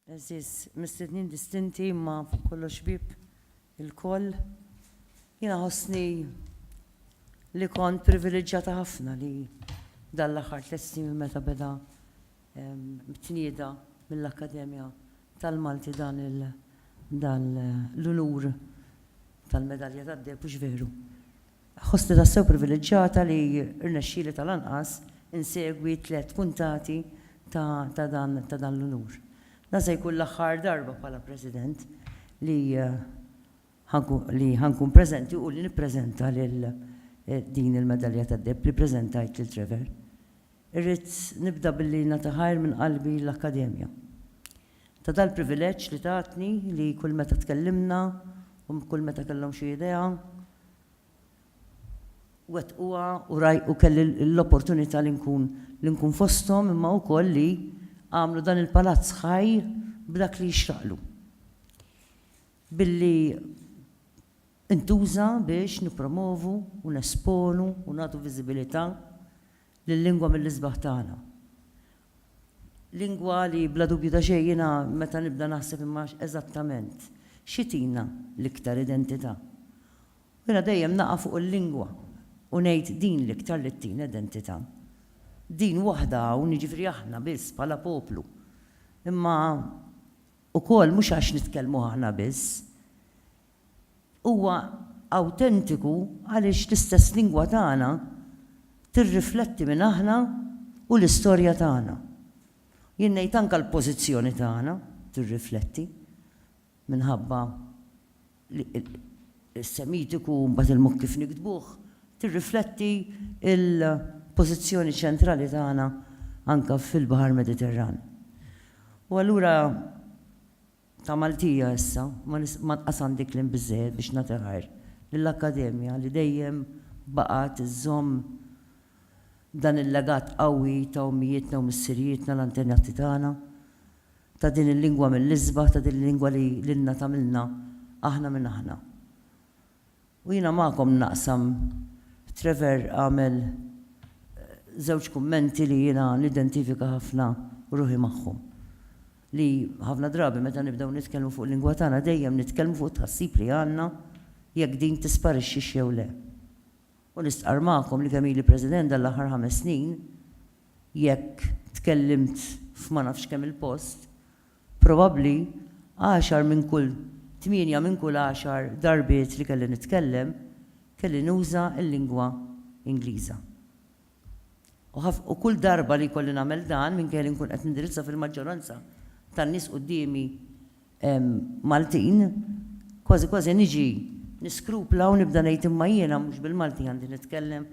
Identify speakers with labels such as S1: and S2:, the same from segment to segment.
S1: Eżiż, mistednin distinti imma fuq kollox ħbieb ilkoll, jiena ħossni li kont privileġġjata ħafna li dan l-aħħar tliet snin minn meta beda tnieda mill-Akkademja tal-Malti dan il- dan l-unur tal-Medalja tad-Deheb, hux veru? Ħossni tassew privileġġata li rnexxieli tal-anqas insegwi tliet puntati ta' dan l-unur. Dan se jkun l-aħħar darba bħala President li ħa nkun preżenti u li nippreżenta lil din il-medalja tad-deheb li ppreżentajt lil Trevor. Irrid nibda billi nagħti ħajr minn qalbi lill-Akkademja ta' dal-privileġġ li tatni li kull meta tkellimna u kull meta kellhom xi idea wettquha u u kelli l-opportunità li nkun li nkun fosthom imma wkoll li għamlu dan il-palazz ħaj b'dak li jixraqlu billi ntuża biex nippromovu u nesponu u nagħtu viżibilità l-lingwa mill-isbaħ tagħna. Lingwa li bla dubju ta' xejn jiena meta nibda naħseb imma eżattament xi tina l-iktar identità? U jiena dejjem naqa' fuq il-lingwa u ngħid din l-iktar li ttina identità. Din waħda hawn, jiġifieri aħna biss bħala poplu. Imma ukoll mhux għax nitkellmu aħna biss, huwa awtentiku għaliex l-istess lingwa tagħna tirrifletti min aħna u l-istorja tagħna. Jien ngħid anke l-pożizzjoni tagħna tirrifletti minħabba li s-Semitiku u mbagħad il-mod kif niktbuh tirrifletti l-pożizzjoni ċentrali tagħna anke fil-Baħar Mediterran. U allura Ta' Maltija issa, ma nqas għandi kliem biżżejjed biex nagħti ħajr lill-Akkademja li dejjem baqgħet iżżomm dan il-legat qawwi ta' ommijietna u missirijietna l-antenati tagħna, ta' din il-lingwa mill-isbaħ, ta' din il-lingwa li lilna tagħmilna aħna minn aħna. U jiena magħkom naqsam, Trevor għamel żewġ kummenti li jiena nidentifika ħafna ruħi magħhom. Li ħafna drabi meta nibdew nitkellmu fuq il-lingwa tagħna dejjem nitkellmu fuq it-tħassib li għandna jekk din tisparixxix jew le. U nistqarr magħkom li kemm ili President dan l-aħħar ħames snin, jekk tkellimt f'ma nafx kemm-il post, Probabbli għaxar minn kull, tmienja minn kull għaxar darbiet li kelli nitkellem, kelli nuża l-lingwa Ingliża. U ħaf, u kull darba li jkolli nagħmel dan, minkejja li nkun qed nindirizza fil-maġġoranza tan-nies quddiemi Maltin, kważi kważi niġi niskrupla u nibda ngħid imma jiena mhux bil-Malti għandi nitkellem?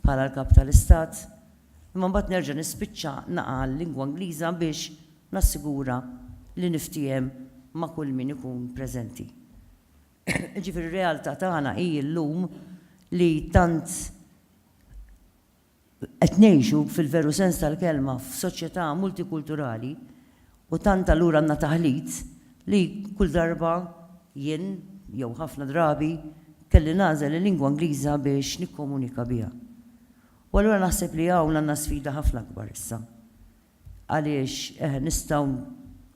S1: bħala l-Kap tal-Istat, imma mbagħad nerġa' nispiċċa naqa' għal-lingwa Ingliża biex nassigura li niftiehem ma' kull min ikun preżenti. Jiġifieri r-realtà tagħna hi llum li tant qed ngħixu fil-veru sens tal-kelma f'soċjetà multikulturali U tant allura għandna taħlit li kull darba jien, jew ħafna drabi, kelli nagħżel il-lingwa Ingliża biex nikkomunika biha. U allura naħseb li hawn għandna sfida ħafna akbar issa. Għaliex, eħe, nistgħu,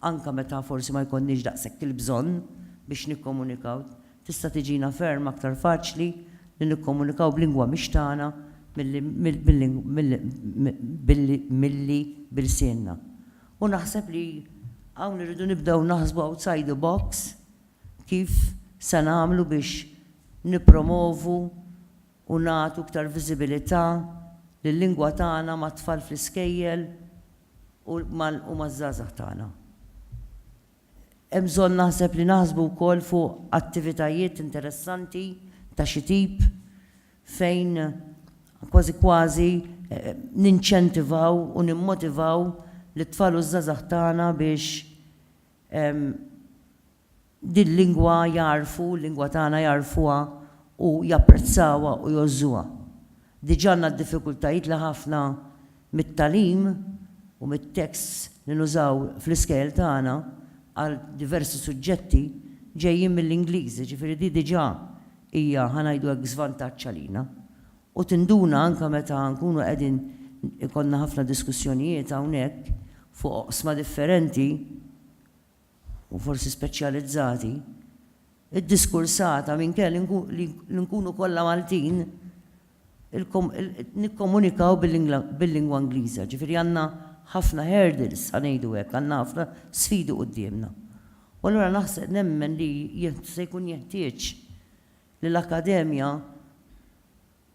S1: anke meta forsi ma jkollniex daqshekk il-bżonn biex nikkomunikaw, tista' tiġina ferm aktar faċli li nikkomunikaw b'lingwa mhix tagħna milli billi b'ilsienna. U naħseb li hawn irridu nibdew naħsbu outside the box kif se nagħmlu biex nippromovu u nagħtu iktar viżibilità lil-lingwa tagħna mat-tfal fl-iskejjel u mal-u maż-żgħażagħ tagħna. Hemm bżonn naħseb li naħsbu wkoll fuq attivitajiet interessanti ta' xi tip fejn kważi kważi ninċentivaw u nimmotivaw lit-tfal u ż-żgħażagħ tagħna biex dil-lingwa jagħrfu, l-lingwa tagħna jagħrfuha u japprezzawha u jgħożżuha. Diġà għandna d-diffikultajiet li ħafna mit-tagħlim u mit-teksts li nużaw fl-iskejjel tagħna għal diversi suġġetti ġejjin mill-Ingliż, jiġifieri di diġà hija, ħa ngħidu hekk, żvantaġġ għalina. U tinduna anke meta nkunu qegħdin ikollna ħafna diskussjonijiet hawnhekk fuq oqsma differenti, u forsi speċjalizzati, iddiskursata minkejja li nkunu kollha Maltin, nikkomunikaw bil-lingwa Ingliża. Ġifieri għandna ħafna hurdles, ħa ngħidu hekk, għandna ħafna sfidi quddiemna. U allura naħseb, nemmen li se jkun jeħtieġ li l-Akkademja,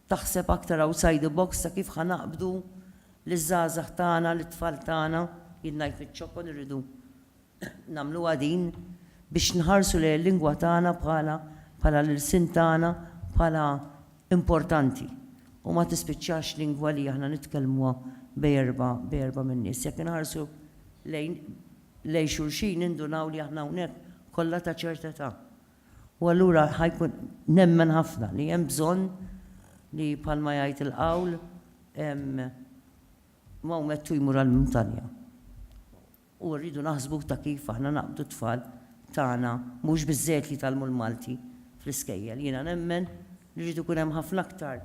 S1: Taħseb aktar outside the box ta' kif ħa naqbdu liż-żgħażagħ tagħna, lit-tfal tagħna, jien ngħid miċ-ċokon irridu nagħmluha din biex nħarsu lejn il-lingwa tagħna bħala bħala l-ilsien tagħna bħala importanti u ma tispiċċax lingwa li aħna nitkellmuha bejn erbgħa bejn erbgħa min-nies. Jekk inħarsu lejn lejn xulxin nindunaw li aħna hawnhekk kollha ta' ċerta età. U allura ħa jkun, nemmen ħafna li hemm bżonn li bħalma jgħid il-qawl, Mawmettu jmur għall-muntanja. U rridu naħsbu ta' kif aħna naqbdu t-tfal tagħna, mhux biżżejjed li jitgħallmu l-Malti fl-iskejjel. Jiena nemmen li jrid ikun hemm ħafna aktar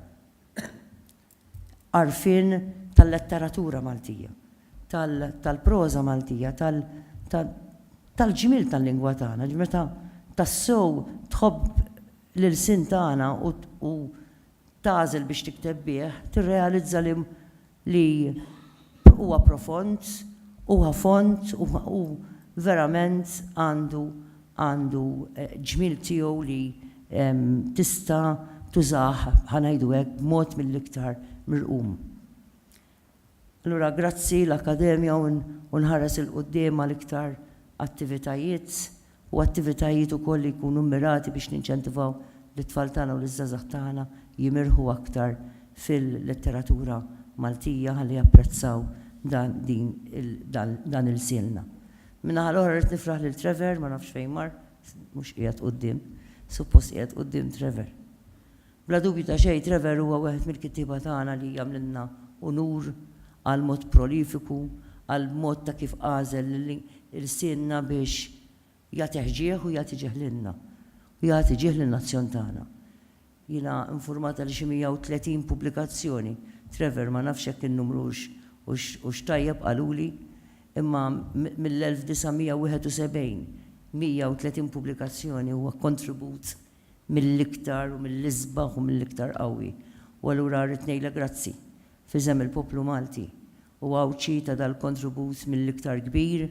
S1: għarfien tal-letteratura Maltija, tal-proża Maltija, tal-ġmiel tal-lingwa tagħna, ġifieri meta tassew tħobb l-ilsien tagħna u tagħżel biex tikteb bih, tirrealizza li huwa profond, huwa fond u verament għandu għandu ġmiel tiegħu li tista' tużah, ħa ngħidu hekk, b'mod mill-iktar mirqum. Allura grazzi l-Akkademja u nħares 'il quddiem għal iktar attivitajiet u attivitajiet ukoll li jkunu mmirati biex ninċentivaw lit-tfal tagħna u liż-żgħażagħ tagħna jimirħu aktar fil-letteratura Maltija ħalli japprezzaw dan din dan dan ilsienna. Min-naħa l-oħra rrid nifraħ lil Trevor, ma nafx fejn mar, mhux qiegħed quddiem, suppost qiegħed quddiem Trevor. Bla dubju ta' xejn Trevor huwa wieħed mill-kittieba tagħna li jagħmlilna unur għal mod prolifiku, għal mod ta' kif għażel lil ilsienna biex jagħtih ġieħ u jagħti ġieħ lilna, u jagħti ġieħ lin-nazzjon tagħna. Jiena infurmata li xi 130 pubblikazzjoni, Trevor, ma nafx jekk in-numru hux hux tajjeb qaluli, imma mill-1971, 130 pubblikazzjoni huwa kontribut mill-iktar u mill-isbaħ u mill-iktar qawwi. U allura rrid ngħidlek grazzi, f'isem il-poplu Malti u Għawdxi ta' dal-kontribut mill-iktar kbir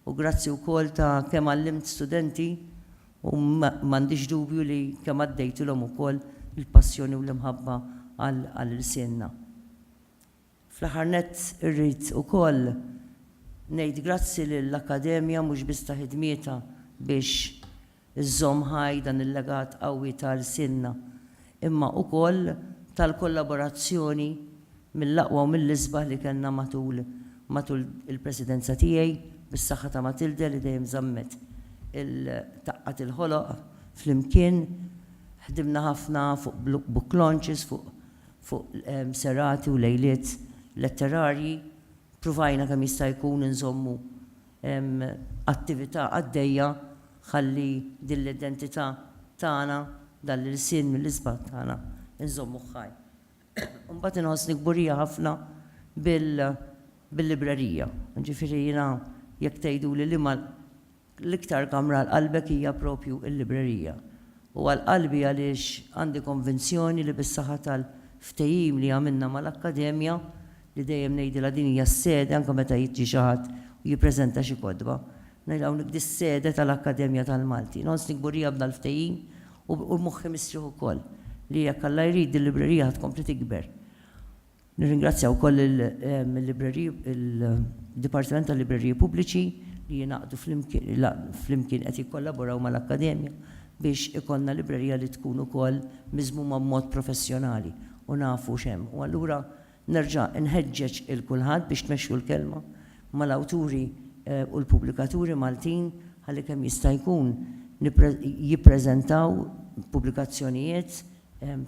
S1: U grazzi wkoll ta' kemm għallimt studenti u m'għandix dubju li kemm għaddejtilhom ukoll il-passjoni u l-imħabba għal ilsienna. Fl-aħħar nett irrid ukoll ngħid grazzi lill-Akkademja mhux biss ta' ħidmietha biex iżżomm ħaj dan il-legat qawwi ta' lsienna, imma ukoll tal-kollaborazzjoni mill-aqwa u mill-isbaħ li kellna matul matul il-Presidenza tiegħi, bis-saħħa ta' Matilde li dejjem żammet il taqgħat il-ħoloq flimkien. Ħdimna ħafna fuq book launches, fuq fuq serati u lejliet letterarji. Pruvajna kemm jista' jkun inżommu hemm attività għaddejja ħalli din l-identità tagħna, dan l-ilsien mill-isbaħ tagħna, inżommuh ħaj. Imbagħad inħossni kburija ħafna bil-librerija. Jiġifieri jiena jekk tgħiduli liema l-iktar kamra għal qalbek hija proprju l-librerija. U għal qalbi għaliex għandi konvinzjoni li bis-saħħa tal-ftehim li għamilna mal-Akkademja li dejjem ngħidilha din hija s-sede anke meta jiġi xi ħadd u jippreżenta xi kotba, ngħidilha hawnhekk di s-sede tal-Akkademja tal-Malti. Nħossni kburija b'dal-ftehim u moħħi mistrieħ ukoll li jekk Alla jrid dil-librerija ħa tkompli tikber. Nirringrazzja wkoll il-libreriji, il-Dipartiment tal-Libreriji Pubbliċi li jingħaqdu flimkien qed jikkollaboraw mal-Akkademja biex ikollna librerija li tkun ukoll miżmuma b'mod professjonali u nafu x'hemm. U allura Nerġa' nħeġġeġ 'il kulħadd biex tmexxu l-kelma mal-awturi u l-pubblikaturi Maltin ħalli kemm jista' jkun jippreżentaw pubblikazzjonijiet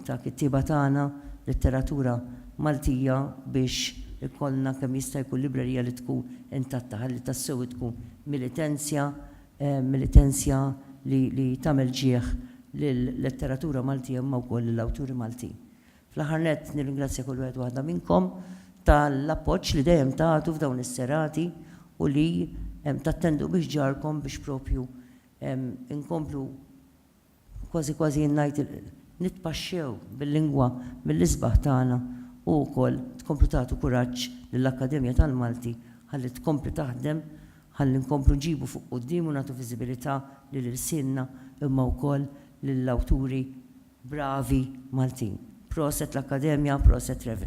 S1: ta' kittieba tagħna, letteratura Maltija biex ikollna kemm jista' jkun librerija li tkun intatta ħalli tassew tkun militenzja, militenzja li tagħmel ġieh lil letteratura Maltija imma wkoll lill-awturi Maltin. Fl-aħħar nett nirringrazzja kull wieħed u waħda minnkom tal-appoġġ li dejjem tagħtu f'dawn is-serati u li tattendu bi ħġarkom biex proprju inkomplu kważi kważi jien ngħid nitpaxxew bil-lingwa mill-isbaħ tagħna u wkoll tkomplu tagħtu kuraġġ lill-Akkademja tal-Malti ħalli tkompli taħdem ħalli nkomplu nġibu fuq quddiem u nagħtu viżibilità lil ilsienna imma wkoll lill-awturi Bravi Maltin. Proset l-Akkademja, proset Rev.